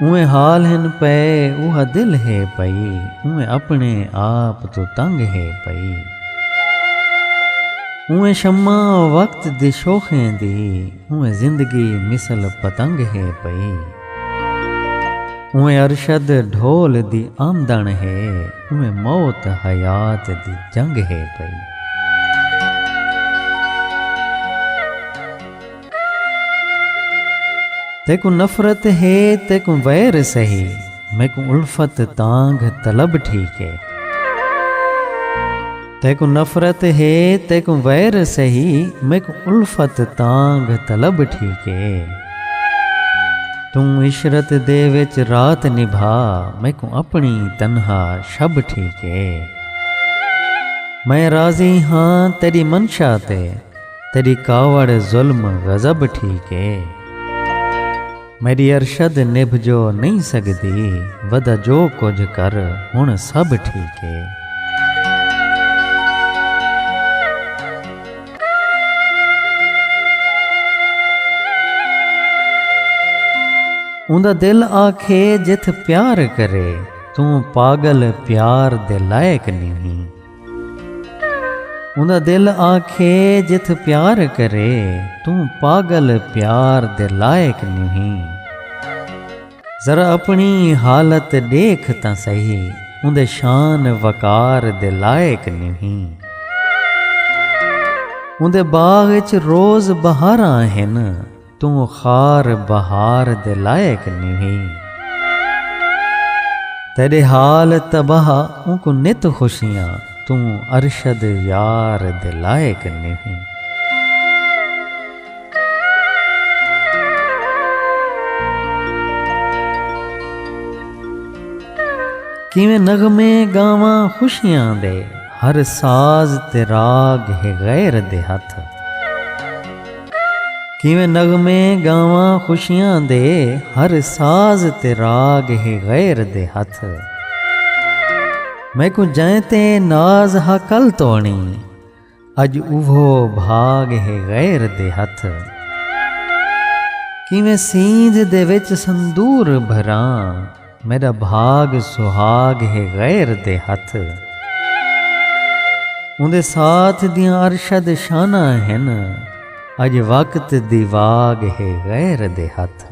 اوئیں حال ہن پئے اوہا دل ہے پئی اوئیں اپنے آپ توں تنگ ہے پئی اوئیں شمع وقت دی شوخیں دی اوئیں زندگی مثل پتنگ ہے پئی اوئیں ارشد ڈھول دی آمدݨ ہے اوئیں موت حیات دی جنگ ہے پئی۔ تیکوں نفرت ہے تیکوں ویر سہی میکوں الفت تانگھ طلب ٹھیک ہے تیکوں نفرت ہے تیکوں ویر سہی میکوں الفت تانگھ طلب ٹھیک ہے توں عشرت دے وچ رات نبھا میکوں اپنی تنہا شب ٹھیک ہے میں راضی ہاں تیری منشا تے تیݙی کاوڑ ظلم غضب ٹھیک اے میݙی ارشد نبھ جو نئیں سڳدی ودا جو کجھ کر ہݨ سب ٹھیک اے۔ اوندا دل آکھے جتھ پیار کرے توں پاڳل پیار دے لائق نئیں۔ اوندا دل آکھے جتھ پیار کرے توں پاگل پیار دے لائق نوہیں ذرا اپنی حالت ڈیکھ تاں سہی اوندے شان وقار دے لائق نوہیں اوندے باغ اچ روز بہاراں ہن۔ توں خار بہار دے لائق نیویں۔ تیݙے حال تباہ اونکوں نت خوشیاں توں ارشد یار دے لائق نیویں۔ کیویں نغمے گاواں خوشیاں دے ہر ساز تے راڳ ہے غیر دے ہتھ۔ کیویں نغمے ڳاواں خوشیاں دے ہر ساز تے راڳ ہے غیر دے ہتھ میکوں جئیں تے ناز ہا کل توݨی اڄ اوہو بھاڳ ہے غیر دے ہتھ کیویں سیندھ دے وچ سندور بھراں میݙا بھاڳ سہاڳ ہے غیر دے ہتھ۔ اوندے ساتھ دیاں ارشد شاناں ہن اڄ وقت دی واڳ ہے غیر دے ہتھ۔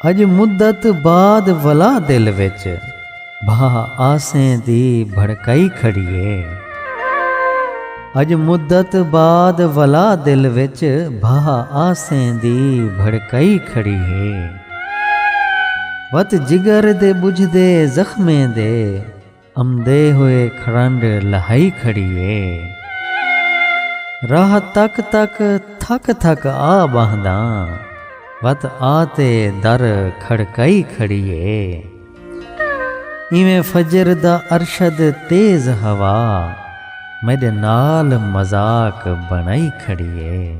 اڄ مدت بعد ولا دل وچ۔ بھا آسیں دی بھڑکائی کھڑی ہے۔ اڄ مدت بعد ولا دل وچ بھا آسیں دی بھڑکائی کھڑی ہے۔ وت جگر دے ٻجھدے زخمیں دے امدے ہوئے کھڑنڈ لہائی کھڑی ہے۔ راہ تک تک تھک تھک آ ٻہنداں وت آ تے در کھڑکائی کھڑی ہے۔ ایویں فجر دا ارشد تیز ہوا میڈے نال مذاق بنڑائی کھڑی ہے۔